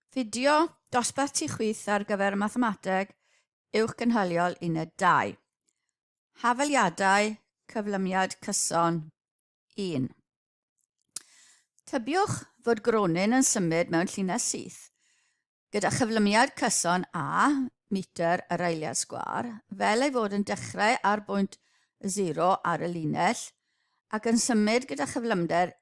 Fideo dosbarth tu chwith ar gyfer mathemateg uwch gynhaliol uned 2. Hafaliadau cyflymiad cyson 1. Tybiwch fod gronyn yn symud mewn llinell syth. Gyda chyflymiad cyson A, metr yr eiliad sgwar, fel ei fod yn dechrau ar bwynt 0 ar y linell ac yn symud gyda chyflymder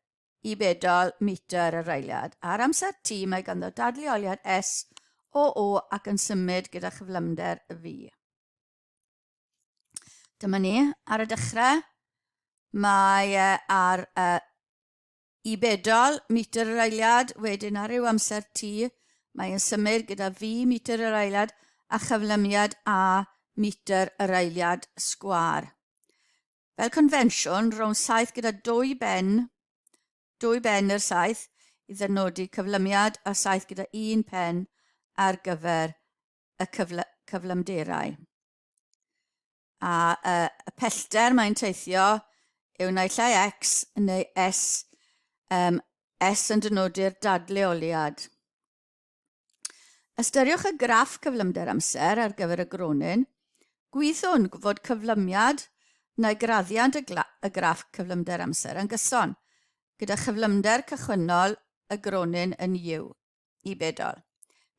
i bedol metr yr eiliad. Ar amser T mae ganddo dadleoliad S o O ac yn symud gyda chyflymder y fi. Dyma ni, ar y dechrau, mae e ar y i bedol metr yr eiliad, wedyn ar ryw amser T mae yn symud gyda fi metr yr eiliad a chyflymiad A metr yr eiliad sgwar. Fel confensiwn, rownd saith gyda dwy ben, dwy ben yr saith i ddynodi cyflymiad a saith gyda un pen ar gyfer y cyfle, cyflymderau. A y, y pellter mae'n teithio yw naill ai X neu S, um, S yn dynodi'r dadleoliad. Ystyriwch y graff cyflymder amser ar gyfer y gronyn. Gwyddwn fod cyflymiad neu graddiant y, y graff cyflymder amser yn gyson, gyda chyflymder cychwynnol y gronyn yn U i bedol.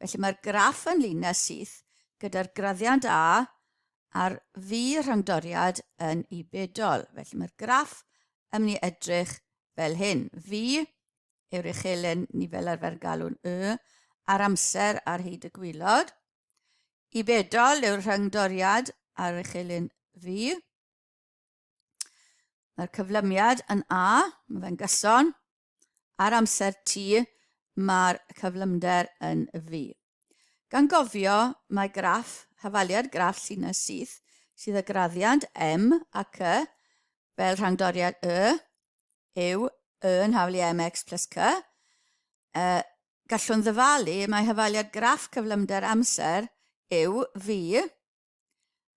Felly mae'r graff yn linell syth gyda'r graddiant A a'r V rhangdoriad yn U bedol. Felly mae'r graff yn mynd i edrych fel hyn. V yw'r uchelen ni fel arfer galw'n y, ar amser ar hyd y gwylod. I bedol yw'r rhyngdoriad ar uchelen fi. Mae'r cyflymiad yn A, mae fe'n gyson. Ar amser T, mae'r cyflymder yn fi. Gan gofio, mae graff, hafaliad graff llinell syth, sydd y graddiant M ac Y fel rhangdoriad Y, yw y yn hawliau MX plus C, y gallwn ddyfalu mae hyfaliad graff cyflymder amser yw V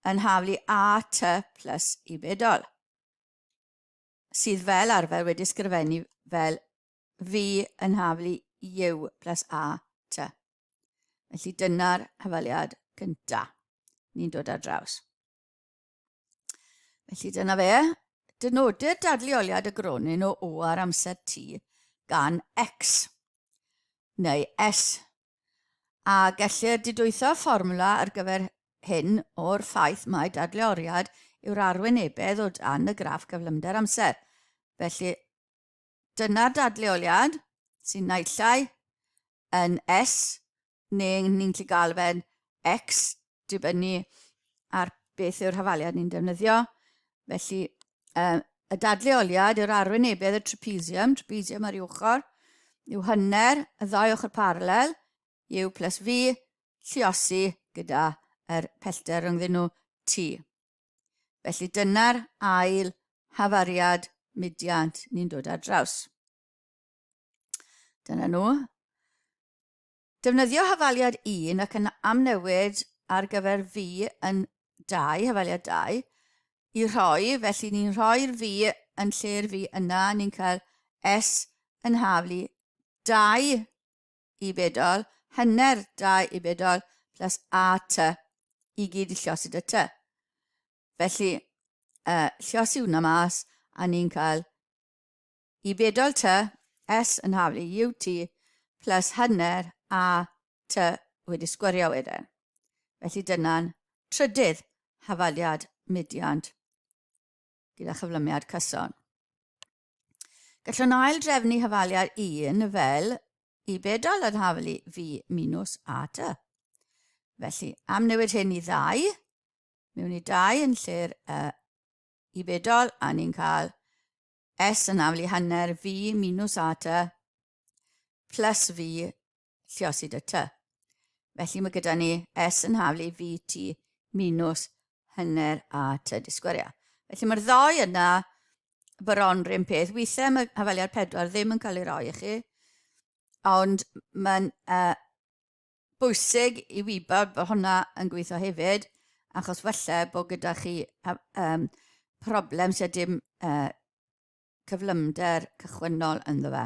yn haflu AT plus i bedol, sydd fel arfer wedi sgrifennu fel V yn haflu U plus AT. Felly dyna'r hyfaliad gyntaf. Ni'n dod ar draws. Felly dyna fe. Dynodir dadleoliad y gronyn o O ar amser T gan X neu S. A gellir didwytho fformwla ar gyfer hyn o'r ffaith mae dadleoriad yw'r arwynebedd o dan y graff gyflymder amser. Felly, Dyna'r dadleoliad sy'n naillai yn S neu ni'n gallu gael fe'n X dibynnu ar beth yw'r hafaliad ni'n defnyddio. Felly um, y dadleoliad yw'r arwynebedd y trapezium, trapezium ar ei ochr, yw hynner y ddau ochr paralel, U plus V, lliosi gyda yr pellter rhyngddyn nhw T. Felly dyna'r ail hafariad mudiant ni'n dod ar draws. Dyna nhw. Defnyddio hafaliad 1 ac yn amnewid ar gyfer fi yn 2, hafaliad 2, i rhoi, felly ni'n rhoi'r fi yn lle'r fi yna, ni'n cael S yn haflu 2 i bedol, hanner 2 i bedol, plus a ty, i gyd i llosi dy ty. Felly, uh, llosi hwnna mas, a ni'n cael i bedol ty, s yn haflu ut, plus hanner a ty wedi sgwrio wedyn. Felly dyna'n trydydd hafaliad mudiant gyda chyflymiad cyson. Gallwn ail-drefnu hafaliad 1 fel i bedol yn haflu fi minus a dy. Felly, am newid hyn i ddau, mewn i dau yn lle'r y i bedol, a ni'n cael S yn haflu hanner fi minus a dy, plus fi lluosid y ty. Felly mae gyda ni S yn haflu i fi ti minus hynner a ty disgwyria. Felly mae'r ddau yna bron rhywun peth. Weithiau mae hafaliad pedwar ddim yn cael ei roi i chi, ond mae'n uh, bwysig i wybod bod hwnna yn gweithio hefyd, achos falle bod gyda chi um, problem sydd dim uh, cyflymder cychwynnol ynddo fe.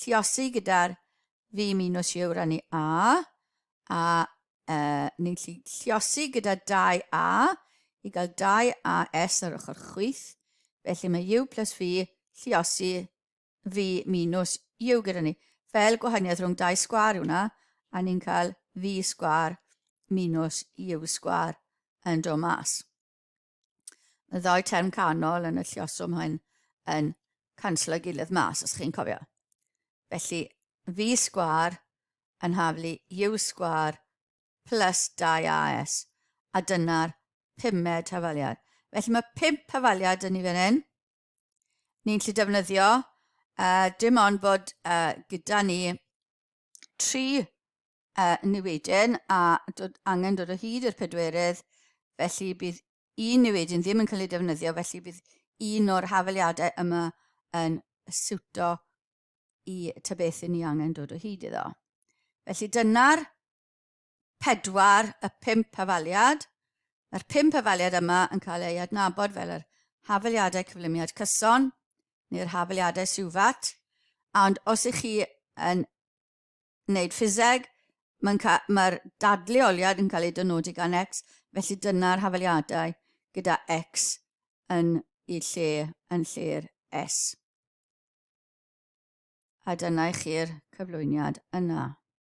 lluosi gyda'r fi minws yw rannu a, a e, ni'n gallu lluosi gyda 2a i gael 2as ar ochr chwyth, felly mae u plus v lluosi v minus u gyda ni. Fel gwahaniaeth rhwng 2 sgwar yw hwnna, a ni'n cael v sgwar minus u sgwar yn dod mas. Mae ddau term canol yn y llioswm hyn yn canslo gilydd mas, os chi'n cofio. Felly, fi sgwar yn haflu u sgwar plus 2as, a dyna'r pumed hafaliad. Felly mae pump hafaliad yn ni fan hyn. Ni'n lle defnyddio, uh, dim ond bod uh, gyda ni tri a niwedyn a dod, angen dod o hyd i'r pedwerydd, felly bydd un niwedyn ddim yn cael ei defnyddio, felly bydd un o'r hafeliadau yma yn siwto i ta beth i ni angen dod o hyd iddo. Felly dyna'r pedwar y pump hafaliad. Mae'r pump hafaliad yma yn cael ei adnabod fel yr hafaliadau cyflymiad cyson neu'r hafaliadau siwfat. Ond os ych chi yn wneud ffiseg, mae'n ca mae'r dadleoliad yn cael ei dynodi gan X, felly dyna'r hafaliadau gyda X yn y lle yn lle'r S. A dyna i chi'r cyflwyniad yna.